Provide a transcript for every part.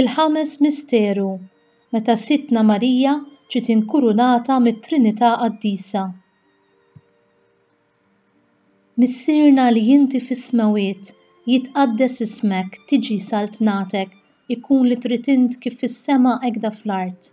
Il-ħames misteru, meta Sidtna Marija ġiet inkurunata mit-Trinità Qaddisa. Missierna li inti fis-smewwiet, jitqaddes ismek, tiġi saltnatek, ikun li trid int kif fis-sema hekda fl-art.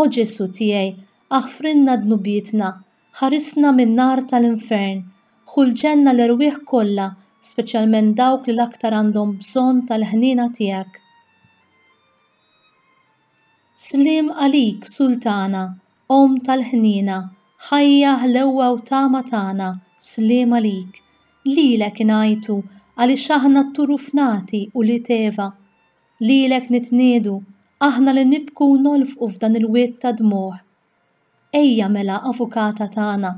O Ġesù tiegħi, aħfrilna dnubietna, ħarisna min-nar tal-infern, ħu l-ġenna l-erwieħ kollha, speċjalment dawk li l-aktar għandhom bżonn tal-ħniena tiegħek. Sliem għalik, Sultana, Omm tal-ħniena, ħajja, ħlewwa u tama tagħna, sliem għalik. Lilek ingħajtu, għaliex aħna t-turuf nati, ulied Eva. Lilek nitniedu, aħna li nibku u nolfqu f'dan il-wied ta' dmugħ. Ejja mela, Avukata tagħna,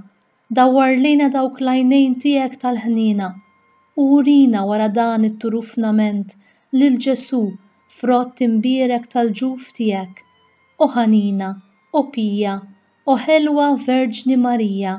dawwar lejna dawk l-għajnejn tiegħek tal-ħniena, u urina wara dan it-turufnament lil Ġesù, frott imbierek tal-ġuf tiegħek. O ħanina, o pija, o ħelwa Verġni Marija,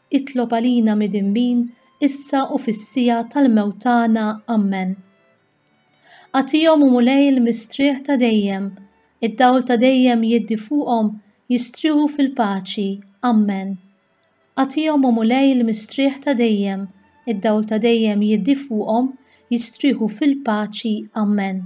Itlob għalina midinbin issa u fis-siegħa tal-mewt tagħna. Ammen. Agħtihom, O Mulej, l-mistrieħ ta' dejjem, id-dawl ta' dejjem jiddi fuqhom jistrieħu fil-paċi. Ammen. Agħtihom, O Mulej, l-mistrieħ ta' dejjem, id-dawl ta' dejjem jiddi fuqhom jistrieħu fil-paċi. Ammen.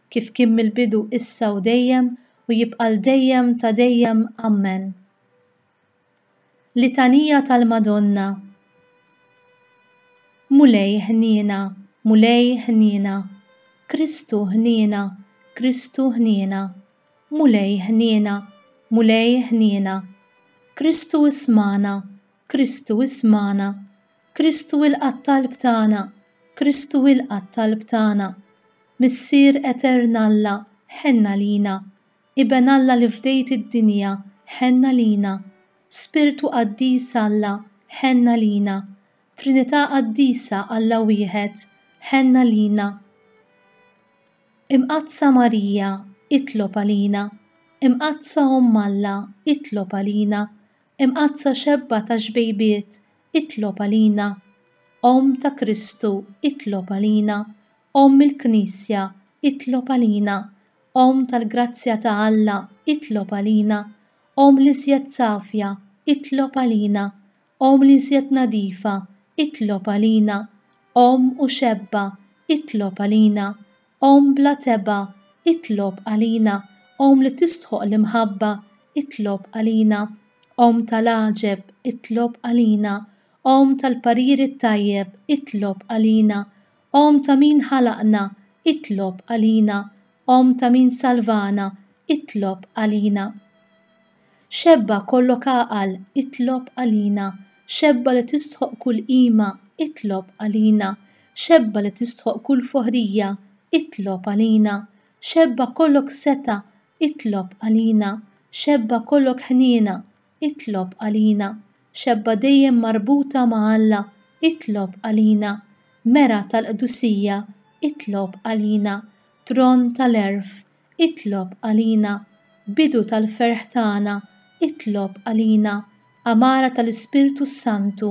kif kien mill-bidu issa u dejjem u jibqa' l dejjem ta' dejjem Ammen. Litanija tal-Madonna Mulej ħniena, Mulej ħniena, Kristu ħniena, Kristu ħniena, Mulej ħniena, Mulej ħniena, Kristu ismana, Kristu ismana, Kristu ilqa' t-talb tagħna, Kristu ilqa' t-talb tagħna. Missier Etern Alla, ħenn għalina. Iben Alla li fdejt id-dinja, ħenn għalina. Spirtu Qaddis Alla, ħenn għalina. Trinità Qaddisa, Alla Wieħed, ħenn għalina. Imqaddsa Marija, itlob għalina. Imqaddsa Omm Alla, itlob għalina. Imqaddsa Xebba tax-xbejbiet, itlob għalina, Omm ta' Kristu, itlob għalina, Omm il-Knisja, itlob għalina, Omm tal-grazzja ta' Alla, itlob għalina, Omm l-iżjed safja, itlob għalina, Omm l-iżjed nadifa, itlob għalina, Omm u xebba, itlob għalina, Omm bla tebgħa, itlob għalina, Omm li tistħoqq l-imħabba, itlob għalina, Omm tal-għaġeb, itlob għalina, Omm tal-parir it-tajjeb, itlob għalina, Omm ta' min ħalaqna, itlob għalina, Omm ta' min salvana, itlob għalina. Xebba kollok għaqal, itlob għalina, xebba li tistħoqq kull qima, itlob għalina, xebba li tistħoqq kull foħrija, itlob għalina, xebba kollok setgħa, itlob għalina, xebba kollok ħniena, itlob għalina, xebba dejjem marbuta ma' Alla, itlob għalina, mera tal-qdusija, itlob għalina, tron tal-għerf, Itlob għalina Bidu tal-ferħ tagħna Itlob għalina Għamara tal-Ispirtu s-Santu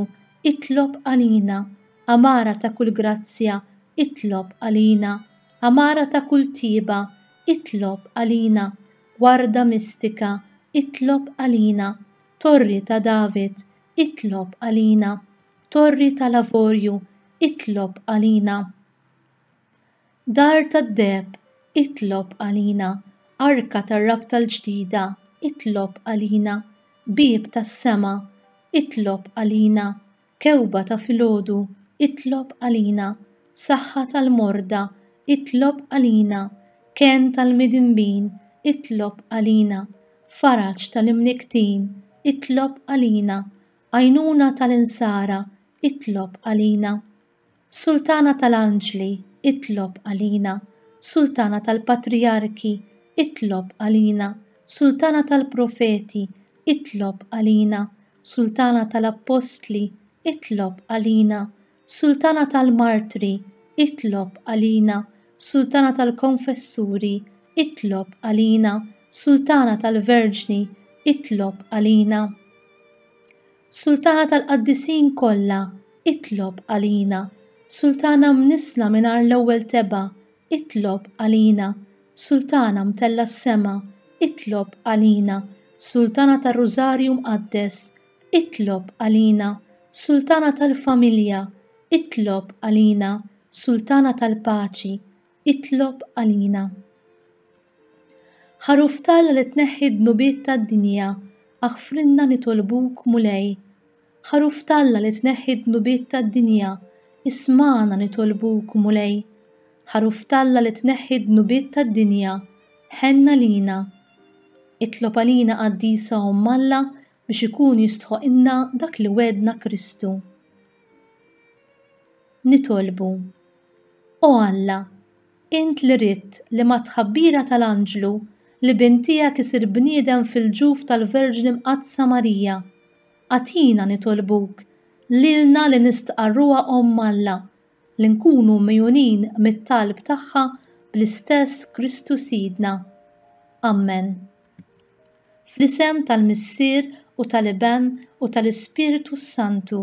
Itlob għalina Għamara ta' kull grazzja Itlob għalina Għamara ta' kull tjieba Itlob għalina Warda mistika Itlob għalina Torri ta' David Itlob għalina Torri tal-Avorju Itlob għalina Dar tad-deheb, itlob għalina, Arka tar-rabta l-ġdida, itlob għalina, Bieb tas-sema, itlob għalina, Kewba ta' filgħodu, itlob għalina, Saħħa tal-morda, itlob għalina, Kenn tal-midinbin, itlob għalina, Faraġ tal-imnikktin, itlob għalina, Għajnuna tal-insara, itlob għalina. Sultana tal-anġli, itlob għalina, Sultana tal-patrijarki, itlob għalina, Sultana tal-profeti, itlob għalina, Sultana tal-appostli, itlob għalina, Sultana tal-martri, itlob għalina, Sultana tal-konfessuri, itlob għalina, Sultana tal-verġni, itlob għalina. Sultana tal-Qaddisin kollha, itlob għalina. Sultana mnissla mingħajr l-ewwel tebgħa, itlob għalina. Sultana mtellgħa s-sema, itlob għalina. Sultana tar-Rużarju Mqaddes, itlob għalina. Sultana tal-familja, itlob għalina. Sultana tal-paċi, itlob għalina. Ħaruf t'Alla li tneħħi d-dnubiet tad-dinja, aħfrilna nitolbuk, Mulej. Ħaruf t'Alla li tneħħi d-dnubiet tad-dinja, ismagħna nitolbuk, Mulej. Ħaruf t'Alla li tneħħi d-dnubiet tad-dinja, ħenn għalina. Itlob għalina Qaddisa Omm Alla biex ikun jistħoqqilna dak li wegħedna Kristu. Nitolbu, O Alla, Int li ridt li mat-tħabbira tal-anġlu li bin tiegħek isir bniedem fil-ġuf tal-Verġni Mqaddsa Marija, agħtina, nitolbuk, lilna li nistqarruha Omm Alla, li nkunu mgħjunin mit-talb tagħha bl-istess Kristu Sidna. Ammen. Fl-isem tal-Missier u tal-Iben u tal-Ispirtu s-Santu.